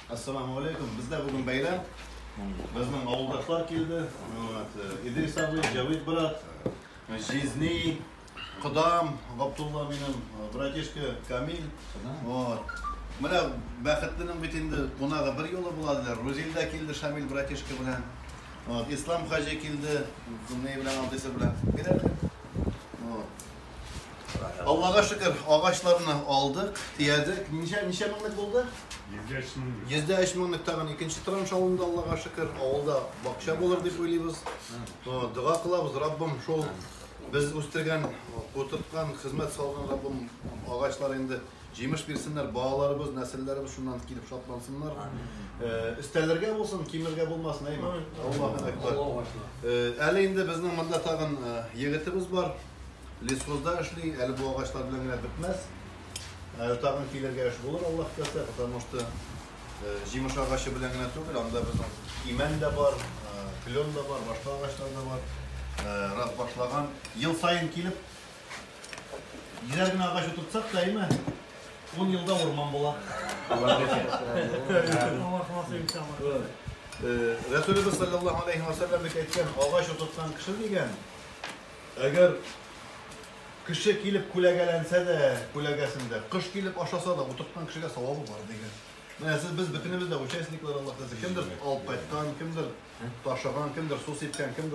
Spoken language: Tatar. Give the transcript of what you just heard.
Ассаламу алейкум. Бездә бүген бәйрәм. Безнең авылдашлар килде. Вот, э, Идрис абый, Җавид брат, э, Жизни, Кодам, Габдулла минем, э, братишка Камил. Вот. Менә бәхетленең бит инде кунагы бер юлы була диләр. Рузил дә килде Шамил братишка белән. Вот, Ислам хаҗи килде. Ни белән алдыйсы белән. Бирәләр. Вот. Аллага шөкер, агачларны алдык, төядек. Ничә ничә меңлек булды? 103 меңлек. 103 меңлек тагын икенче транш алынды, Аллага шөкер. Авылда бакча булыр дип уйлыйбыз. Дога кылабыз, Раббым шул без үстергән, утырткан, хезмәт салган Раббым агачлар инде җимеш бирсеннәр, балаларыбыз, нәселләребез шуннан килеп шатлансыннар. Өстәлергә булсын, кимергә булмасын, әйме? Аллаһу әкбар. Әле инде безнең монда тагын егетебез бар. Лесхозда эшли, әле бу агачлар белән генә бетмәс. Ә тагын килергә эш булыр, Аллаһ теләсә, потому что э, җимеш агачы белән генә түгел, анда безнең имән дә бар, э, клен да бар, башка агачлар да бар. Э, раз башлаган, ел саен килеп, йөзәр генә агач утыртсак та, әйме, ун елда урман була. Аллаһ теләсә. Рәсүлебез саллаллаһу алейхи ва саллям бит әйткән, агач утырткан кеше дигән, Әгәр кеше килеп күләгәләнсә дә, күләгәсендә, кош килеп ашаса да, утырткан кешегә савабы бар дигән. Менә сез без бөтенебез дә участниклар Аллаһ Тәгалә. Кемдер алып кайткан, кемдер ташыган, кемдер су сипкән, кемдер